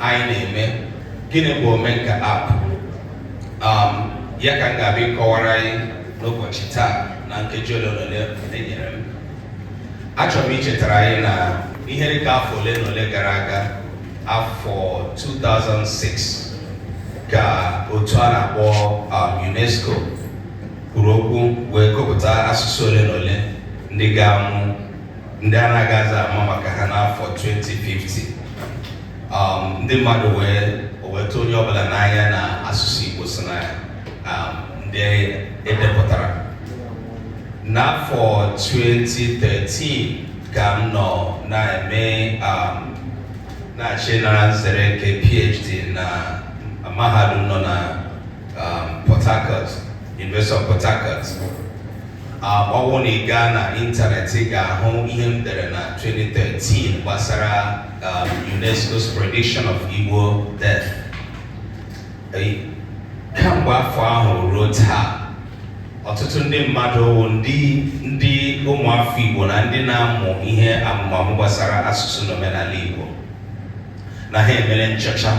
anyị na-eme gịnị bụ omenka app um, ya ka m ga-abịa ịkọwara anyị n'ụbọchị taa na nkeji ole na ole enyere m achọrọ m ichetara anyị na ihe dịka afọ ole na ole gara aga afọ 2006 ka otu a na-akpọ um, UNESCO kwuru okwu wee gụpụta asụsụ ole na ole ndị ga-anwụ ndị a na-agaghịzi ama maka ha n'afọ 2050 um, ndị mmadụ wee o wee tụ onye ọbụla n'anya na asụsụ Igbo so na um, ndị edepụtara n'afọ 2013 ka m nọ na-eme um, na-achọ ịnara nzere nke PhD na mahadum nọ na um, Port Harcourt, University of Port Harcourt. Um, ọ bụrụ na ị gaa na ịntanetị ị ga-ahụ ihe m dere na 2013 gbasara um, UNESCO's prediction of Igbo death. Eh, Kamgbe afọ ahụ ruo taa, ọtụtụ ndị mmadụ wụ ndị ndị ụmụafọ Igbo na ndị na-amụ ihe amụmamụ gbasara asụsụ na omenala Igbo na ha emere nchọcha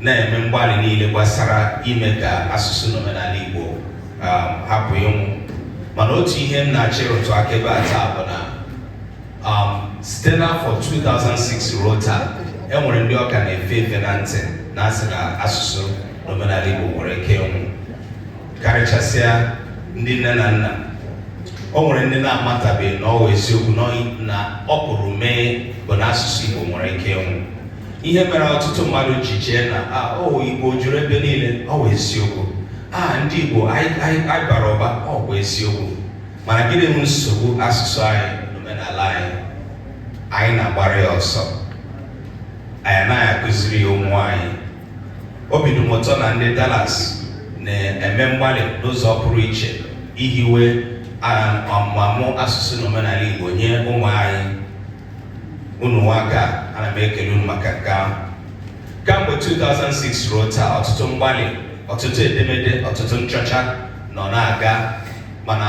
na-eme mgbalị niile gbasara ime ka asụsụ na omenala Igbo um, hapụ ịnwụ mana otu ihe m na-achọ ịrụtụ aka ebe a taa bụ na um, site n'afọ 2006 ruo taa e nwere ndị ọ ka na-efe efe na ntị na asị na asụsụ na omenala Igbo nwere ike ịnwụ karịchasịa ndị nne na nna o nwere ndị na-amatabeghị na ọ wụ eziokwu na ọ pụrụ ime bụ na asụsụ Igbo nwere ike ịnwụ ihe mere ọtụtụ mmadụ ji chee na ọ wụ ah, Igbo juru ebe niile ọ wụ eziokwu a ah, ndị Igbo anyị bara ụba ọ wụ eziokwu mana gịnị bụ nsogbu asụsụ anyị na omenala anyị anyị na-agbara ya ọsọ anyị anaghị akụziri ya ụmụ anyị Obi dị m ụtọ na ndị Dallas na-eme mgbalị n'ụzọ pụrụ iche ihiwe ọmụmụ asụsụ na omenala Igbo nye ụmụ anyị unu anwaka ana m ekele unu maka nke ahụ kamgbe 2006 ruo taa ọtụtụ mgbalị ọtụtụ edemede ọtụtụ nchọcha nọ na-aga mana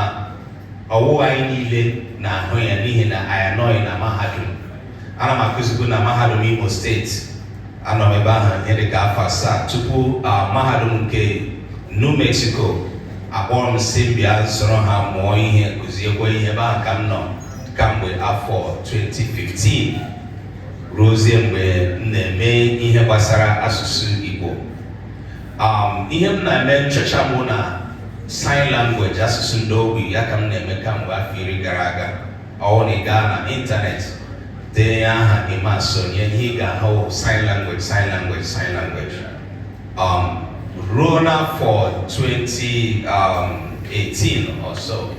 ọ wụghị anyị niile na-ahụ ya n'ihi na anyị anọghị na mahadum ana m akụzibu na mahadum Imo steeti Anọ m ebe ahụ ihe dị ka afọ asaa tupu mahadum nke New Mexico akpọọ m sị m bịa soro ha mụọ ihe kụziekwa ihe ebe ahụ ka m nọ kamgbe afọ 2015 ruozie mgbe m na-eme ihe gbasara asụsụ Igbo um, ihe m na-eme nchọcha m wụ na sign language asụsụ ndị ogbi ya ka m na-eme kamgbe afọ iri gara aga ọwụ na ị gaa na ịntanetị denye aha Emma Asonye ihe ị ga-ahụ sign language sign language sign language um, ruo n'afọ 2018 um, or so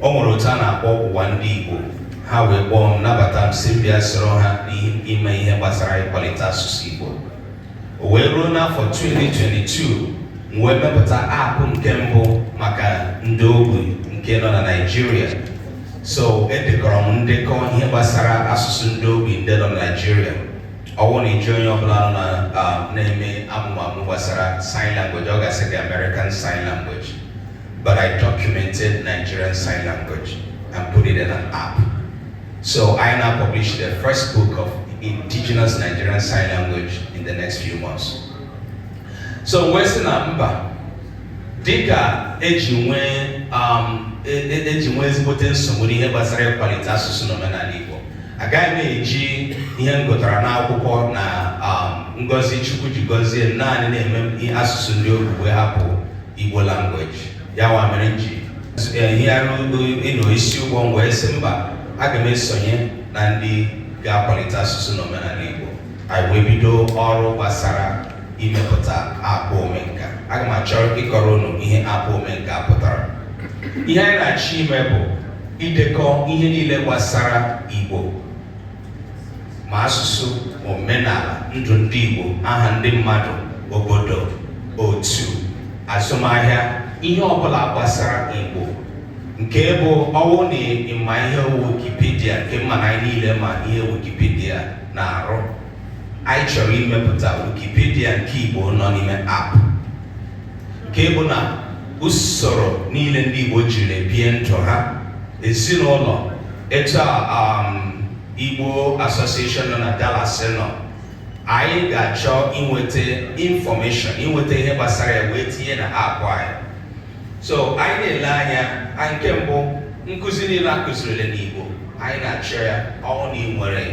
o nwere otu a na-akpọ ụwa ndị Igbo ha wee kpọọ m nabata m sị m bịa soro ha n'ime ihe gbasara ịkwalite asụsụ Igbo o wee ruo n'afọ 2022 m wee mepụta app nke mbụ maka ndị ogbi nke nọ na Naịjirịa so edekọrọ m ndekọ ihe gbasara asụsụ ndị ogbi ndị nọ na Naịjirịa ọwụ na ị jụọ onye ọbụla nọ na-eme amụmamụ gbasara sign language ọ ga-asị gị American sign language but I documented Nigerian sign language and put it in an app So I now publish the first book of indigenous Nigerian sign language in the next few months. So wee sị na mba dịka eji nwee um, e, e, eji nwee ezigbote nsogbu n'ihe gbasara ịkwalite asụsụ na omenala Igbo agaghị m eji ihe m gụtara n'akwụkwọ na um, ngọzi Chukwu ji gọzie m naanị na-eme asụsụ ndị ogbi wee hapụ Igbo language ya nwa mere m ji nyagharịa udo you know isi ụgbọ m wee sị mba aga m esonye na ndị ga-akwalite asụsụ na omenala Igbo anyị wee bido ọrụ gbasara imepụta app Omenka aga m achọ ịkọrọ unu ihe app Omenka pụtara ihe anyị na-achọ ime bụ idekọ ihe niile gbasara Igbo ma asụsụ ma omenala ndụ ndị Igbo aha ndị mmadụ obodo otu azụmahịa ihe ọbụla gbasara Igbo nke bụ ọwụ na ị ma ihe wụ wikipedia nke m ma na anyị niile ma ihe wikipedia na-arụ anyị chọrọ imepụta wikipedia nke Igbo nọ n'ime app nke bụ na usoro niile ndị Igbo jiri bie ndụ ha ezinụlọ etu Igbo Association nọ na Dallas nọ anyị ga-achọ inweta information inweta ihe gbasara ya wee tinye na app anyị so anyị na-ele anya anyị nke mbụ nkụzi niile a kụzirila n'Igbo anyị na-achọ ya ọwụ na ị nwere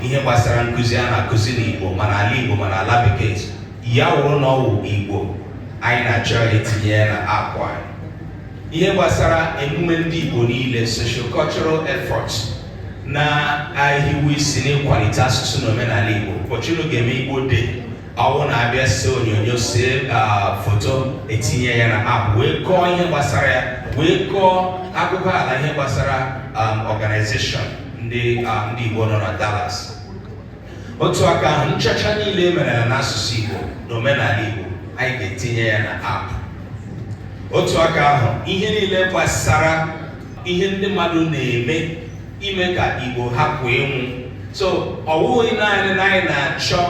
ihe gbasara nkụzi a na-akụzi n'Igbo ma n'ala Igbo ma n'ala Bekee ya wụrụ na ọwụ Igbo anyị na-achọ itinye ya na app anyị ihe gbasara emume ndị Igbo niile socio-cultural efforts na-ehiwe isi n'ịkwalite asụsụ na omenala Igbo ụbọchị unu ga-eme Igbo Day ọwụ na a bịa see onyonyo see foto e tinye ya na app wee kọọ ihe gbasara ya wee kọọ akụkọ ala ihe gbasara um, organization ndị um, Igbo nọ na Dallas otu aka ahụ nchọcha niile e merela n'asụsụ Igbo na omenala Igbo anyị ga-etinye ya na app otu aka ahụ ihe niile gbasara ihe ndị mmadụ na-eme ime ka Igbo hapụ ịnwụ so ọ bụghị naanị na anyị na-achọ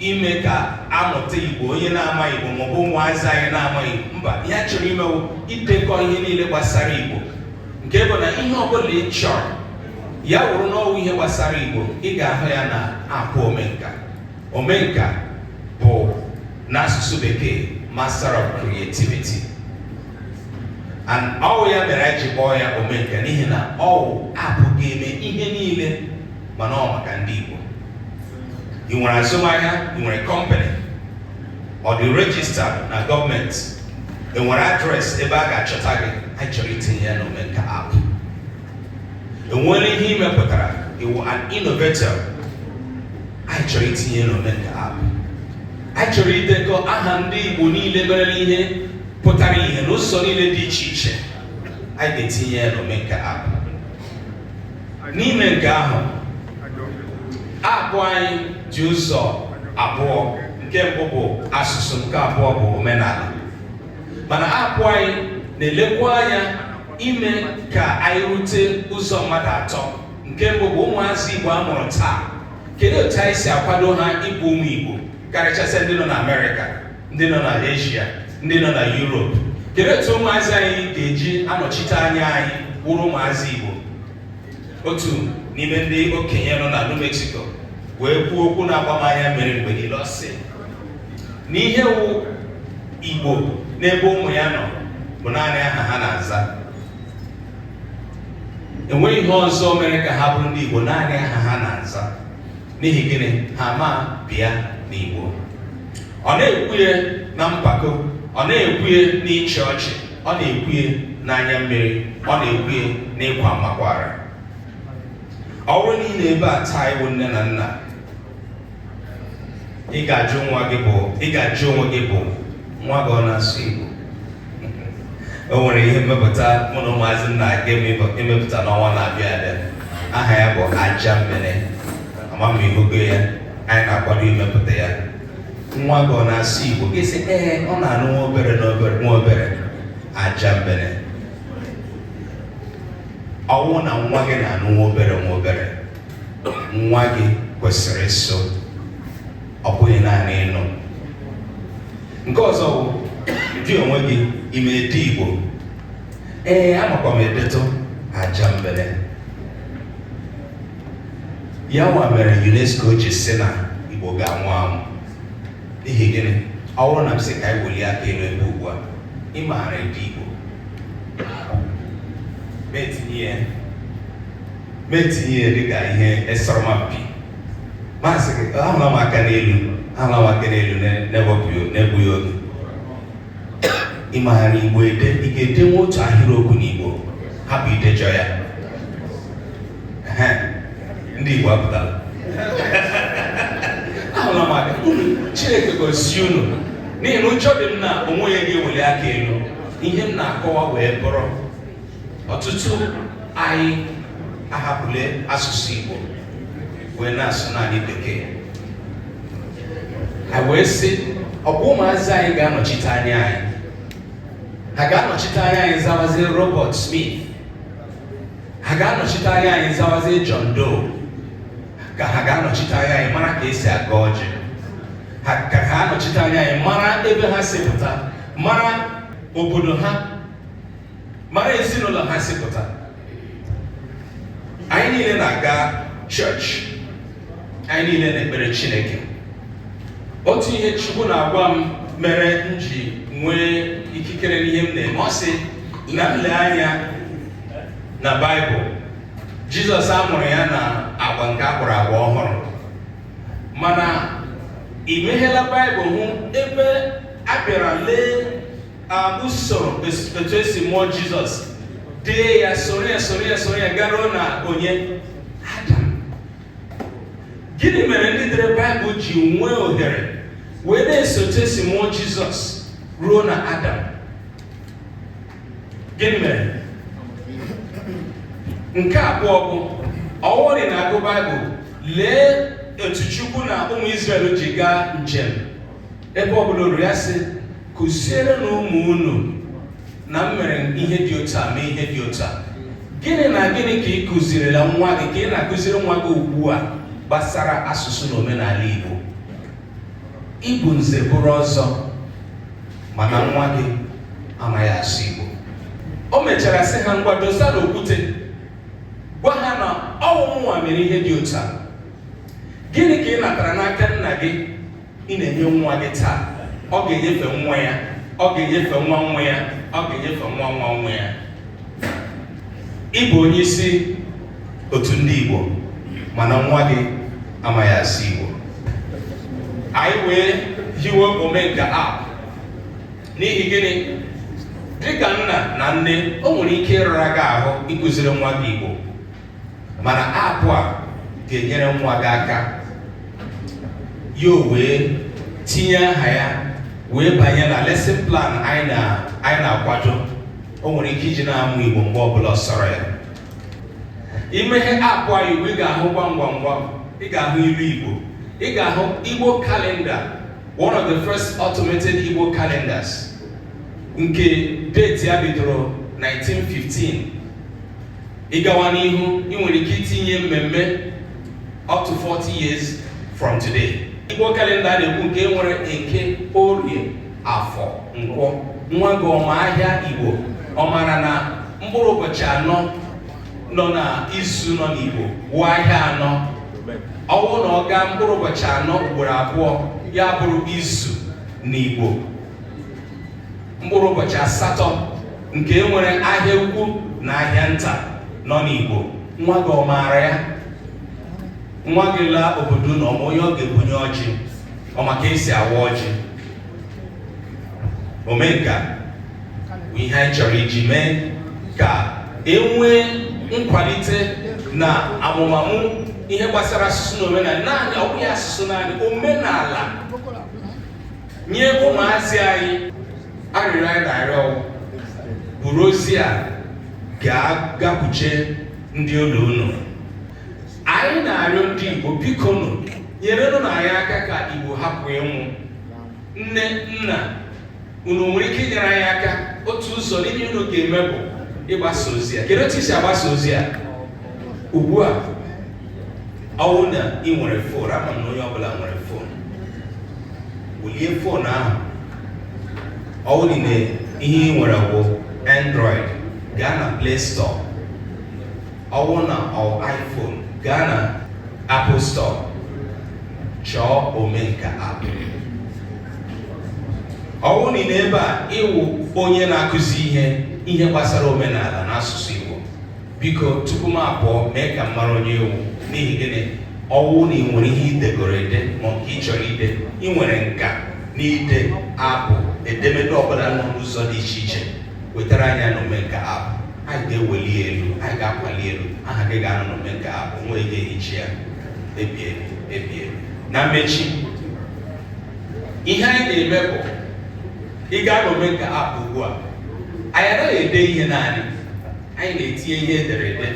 ime ka a mụta Igbo onye na-ama Igbo maọbụ ụmụazị anyị na-ama Igbo mba ihe a chọrọ ime wụ idekọ ihe niile gbasara Igbo nke bụ na ihe ọbụla ị chọrọ ya wụrụ na ọ wụ ihe gbasara igbo ị ga-ahụ ya na app omenka omenka bụ n'asụsụ bekee master of creativity and ọ wụ ya mere anyị ji kpọọ ya omenka n'ihi na ọ wụ app ga-eme ihe niile mana ọ maka ndị igbo ị nwere azụmahịa ị nwere kọmpanị ọ dị rejista na gọọmenti ị nwere adreesị ebe a ga-achọta gị anyị chọrọ itinye ya n'omenka app e nwere ihe ị mepụtara ị wụ an innovator anyị chọrọ itinye n'omenka app anyị chọrọ idekọ aha ndị igbo niile merela ihe pụtara ihe n'ụzọ niile dị iche iche anyị ga-etinye ya n'omenka app n'ime nke ahụ app anyị dị ụzọ abụọ nke mbụ bụ asụsụ nke abụọ bụ omenala mana app anyị na-elekwa anya ime ka anyị rute ụzọ mmadụ atọ nke mbụ bụ ụmụazị Igbo a mụrụ taa kedu otu anyị si akwado ha ịbụ ụmụ Igbo karịchasịa ndị nọ na Amerịka ndị nọ na Asia ndị nọ na Europe kedu otu ụmụazị anyị ga-eji anọchite anya anyị wụrụ ụmụazị Igbo otu n'ime ndị okenye nọ na New Mexico wee kwuo okwu na-agba m anya mmiri mgbe niile ọ sị na ihe wụ igbo n'ebe ụmụ ya nọ bụ naanị aha ha na-aza enweghị ihe ọzọ mere ka ha bụrụ ndị igbo naanị aha ha na-aza n'ihi gịnị ha ama bịa n'igbo ọ na-ekwu ya na mpako ọ na-ekwu ya n'ịchị ọchị ọ na-ekwu ya n'anya mmiri ọ na-ekwu ya n'ịkwa mmakwara ọ wụrụ na ị nọ ebe a taa ị wụ nne na nna ị ga-ajụ onwe gị bụ nwa gị ọ na-asụ Igbo o nwere ihe mmepụta mụ na ụmụazị na-aga imepụta n'ọnwa na-abịa abịa aha ya bụ ajambene ama m ma ị hụgo ya anyị na-akwado imepụta ya nwa gị ọ na-asụ Igbo gị sị ee ọ na-anụ nwa obere nwa obere ajambene ọ wụ na nwa gị na-anụ nwa obere nwa obere nwa gị kwesịrị ịsụ ọ bụghị naanị ịnụ nke ọzọ bụ gị onwe gị ị ma ede igbo ee amakwa m edetụ aja mbere ya nwa mere unesco ji si na igbo ga-anwụ anwụ n'ihi gịnị ọ bụrụ na m sị ka anyị welie aka elu ebe ugbu a ị maara ede igbo ma etinye ya ma etinye ya dịka ihe asọrọmpi masị gị ahụla m aka n'elu ahụla m aka n'elu na-egbughị oge ị maara igbo ede ị ga-edenwe otu ahịrịokwu n'igbo hapụ idejọ ya ndị igbo apụtara ahụla m aka chineke gọzie unu n'ihi na ụjọ dị m na o nweghị ga-eweli aka elu ihe m na-akọwa wee bụrụ ọtụtụ anyị ahapụle asụsụ Igbo wee na-asụ naanị bekee ha wee sị ọ bụ ụmụazị anyị ga-anọchite anya anyị ha ga-anọchite anya anyị zawazie Robert Smith ha ga-anọchite anya anyị zawazie John Doe ka ha ga-anọchite anya anyị mara ka esi agọ ọjị ha ga-anọchite anya anyị mara ebe ha si pụta mara obodo ha mara ezinụlọ ha si pụta anyị niile na-aga chọọchị anyị niile na-ekpere Chineke otu ihe Chukwu na-agwa m mere m ji nwee ikikere n'ihe m na-eme ọ sị na m lee anya na Baịbụl Jizọs a mụrụ ya na agba nke a kpọrọ agba ọhụrụ mana i meghela Baịbụl hụ ebe a bịara lee usoro otu esi mụọ jizọs dee ya soro ya soro ya soro ya garuo na onye adam gịnị mere ndị dere baịbụl ji nwee ohere wee na-eso otu esi mụọ jizọs ruo na adam gịnị mere nke abụọ bụ ọ wụrụ ị na-agụ baịbụl lee otu chukwu na ụmụ Izrel ji gaa njem ebe ọ bụla o ru ya sị kụzierenụ ụmụ unu na m mere ihe dị otu a mee ihe dị otu a gịnị na gịnị ka ị kụzirila nwa gị ka ị na-akụziri nwa gị ugbu a gbasara asụsụ na omenala Igbo ị bụ nze bụrụ ọzọ mana nwa gị amaghị asụ Igbo o mechara sị ha ngwa dosanụ okwute gwa ha na ọ wụ mụnwa mere ihe dị otu a gịnị ka ị natara n'aka nna gị ị na-enye nwa gị taa ọ ga-enyefe nwa ya ọ ga-enyefe nwa nwa ya ọ ga-enyefe nwa nwa nwa ya ịbụ onye isi otu ndị Igbo mana nwa gị amaghị asụ Igbo anyị wee hiwe omenka app n'ihi gịnị dịka nna na nne o nwere ike ịrara gị ahụ ịkụziri nwa gị Igbo mana app a ga-enyere nwa gị aka ya wee tinye aha ya wee banye na lesson plan anyị na-akwado o nwere ike iji na-amụ Igbo mgbe ọbụla sọrọ ya i meghe app a Igbo ị ga-ahụ gwam gwam gwam ị ga-ahụ ilu Igbo ị ga-ahụ Igbo kalenda one of the first automated Igbo calendars nke date ya bidoro 1915 ị gawa n'ihu ị nwere ike itinye mmemme up to 40 years from today igbo kalenda a na-ekwu nke nwere eke orie afọ nkwọ nwa gị ọ ma ahịa igbo ọ mara na mkpụrụ ụbọchị anọ nọ na izu nọ n'igbo wụ ahịa anọ ọ wụ na ọ gaa mkpụrụ ụbọchị anọ ugboro abụọ ya bụrụ izu n'igbo mkpụrụ ụbọchị asatọ nke e nwere ahịa ukwu na ahịa nta nọ n'Igbo nwa gị ọ maara ya nwa gị laa obodo na ọ ma onye ọ ga-ebunye ọjị ọ ma ka e si awa ọjị omenka bụ ihe anyị chọrọ iji mee ka e nwee nkwalite na amụmamụ ihe gbasara asụsụ na omenala naanị ọ bụghị asụsụ naanị omenala nye ụmụazị anyị arịrịọ anyị na-arịọ wụ buru ozi a ga-agakwuche ndị ụlọ unu anyị na-arịọ ndị Igbo bikonụ nyerenụ na anyị aka ka Igbo hapụ ịnwụ nne nna unu nwere ike inyere anyị aka otu ụzọ n'ihe unu ga-eme bụ ịgbasa ozi a kedu otu i si agbasa ozi a ugbu a ọ wụ na ị nwere fon ama m na onye ọbụla nwere fon welie fon ahụ ọ wụdị na ihe ị nwere bụ android gaa na play store ọ wụ na ọ iphone gaa na apple store chọọ omenka app ọ wụdị n'ebe a ị wụ onye na-akụzi ihe ihe gbasara omenala na asụsụ igbo biko tupu m apụọ mee ka m mara onye ị wụ n'ihi gịnị ọ wụ na ị nwere ihe i degoro ede ma nke ị chọrọ ide ị nwere nka n'ide abụ edemede ọbụla nọ n'ụzọ dị iche iche wetara anyị na omenka app anyị ga-eweli elu anyị ga-akwali elu aha gị ga-anọ na omenka app nweghị ga-ehichi ya ebighị ebi na mmechi ihe anyị na-eme bụ ị gaa na omenka app ugbu a anyị anaghị ede ihe naanị anyị na-etinye ihe ederede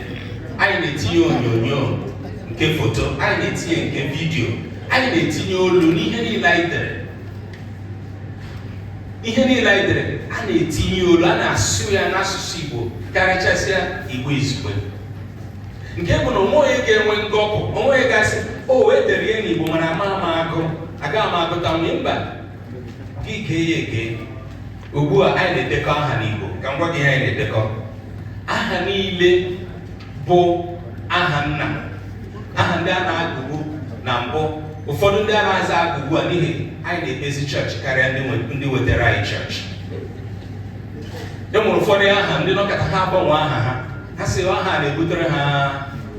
anyị na-etinye onyonyo nke foto anyị na-etinye nke vidiyo anyị na-etinye olu n'ihe niile anyị dere ihe niile anyị dere a na-etinye olu a na-asụ ya n'asụsụ Igbo karịchasịa Igbo izugbe nke bụ na o nweghị onye ga-enwe ngọpụ o nweghị onye ga-asị o wee e dere ihe n'Igbo mana amaghị m agụ agaghị m agụtanwu mba gị gee ya egee ugbu a anyị na-edekọ aha n'Igbo ka m gwa gị ihe anyị na-edekọ aha niile bụ aha nna aha ndị a na-agụbu na mbụ ụfọdụ ndị a nazịghị agụ ugbu a n'ihi anyị na-ekpezi chọọchị karịa ndị nwe- ndị wetara anyị chọọchị e nwere ụfọdụ aha ndị nọkata ha agbanwe aha ha ha sị aha a na-ebutere ha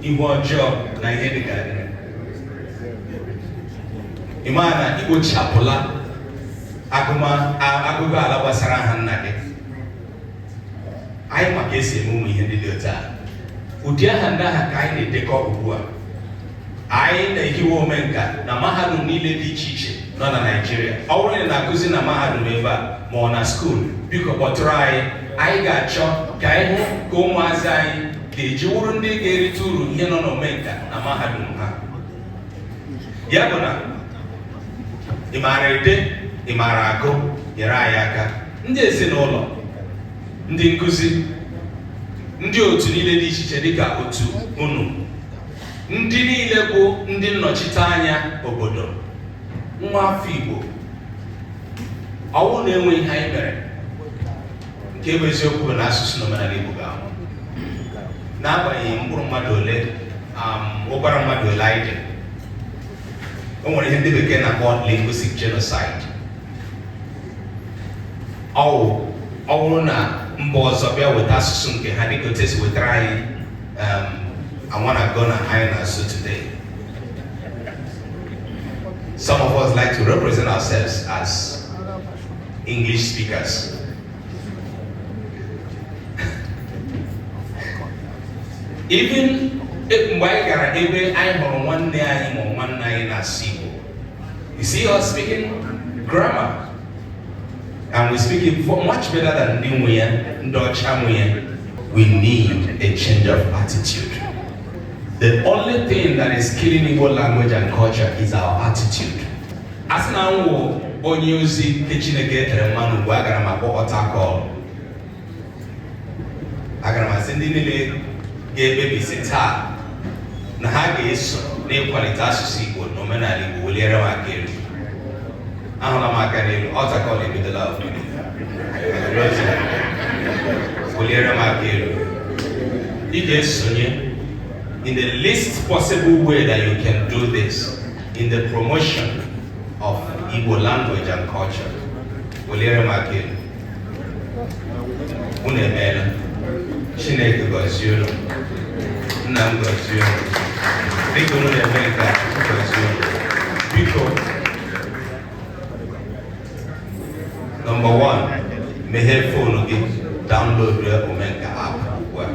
ihu ọjọọ na ihe dị ka ị ma na i kpochapụla agụgụala gbasara aha nna gị anyị ma ka e si eme ụmụ ihe ndị dị otu a ụdị aha ndị ahụ ka anyị na-edekọ ugbu a anyị na-ehiwe omenka na mahadum niile dị iche iche nọ na Naịjirịa ọ bụrụ na ị na-akụzi na mahadum ebe a ma ọ na skuul biko kpọtụrụ anyị anyị ga-achọ ka anyị hụ ka ụmụazị anyị ga-eji wụrụ ndị ga-erite uru ihe nọ n'omenka na mahadum ha ya bụ na ị maara ede ị maara agụ nyere anyị aka ndị ezinụlọ ndị nkụzi ndị otu niile dị iche iche dịka otu unu ndị niile bụ ndị nnọchite anya obodo nwa afọ Igbo ọ wụ na enweghị ihe anyị mere nke bụ eziokwu bụ na asụsụ na omenala Igbo ga-anwụ n'agbanyeghị mkpụrụ mmadụ ole um, ụbara mmadụ ole anyị dị o nwere ihe ndị bekee na-akpọ linguistic genocide ọ bụrụ na mba ọzọ bịa weta asụsụ nke ha dịka otu e si wetara anyị um, I wanna gonna anyị na-asụ today some of us like to represent ourselves as English speakers. Even e- mgbe anyị gara ebe anyị hụrụ nwanne anyị ma nwanne anyị na-asụ Igbo, you see us speaking grammar and we speak it vo- much better than ndị nwe ya, ndị ọcha nwe ya. We need a change of attitude. The only thing that is killing Igbo language and culture is our attitude. a sị na m wụ onye ozi nke chineke e tere mmanụ ugbu a agara m akpọ altar call agara m asị ndị niile ga-ekpebi si taa na ha ga-eso n'ịkwalite asụsụ igbo na omenala igbo weliere m aka elu ahụla m aka n'elu altar call ebidola weliere m aka elu ị ga-esonye in the least possible way that you can do this in the promotion of Igbo language and culture weliere m aka elu unu emeela Chineke gọzie unu nna m gọzie unu dịka unu na-eme nke a gọzie unu biko Number one, meghee phone gị download Omenka app ugbu a.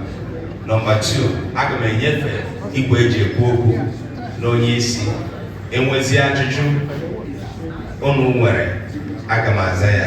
Number two, aga m enyefe igwe eji ekwu okwu n'onye isi e nwezi ajụjụ unu nwere aga m aza ya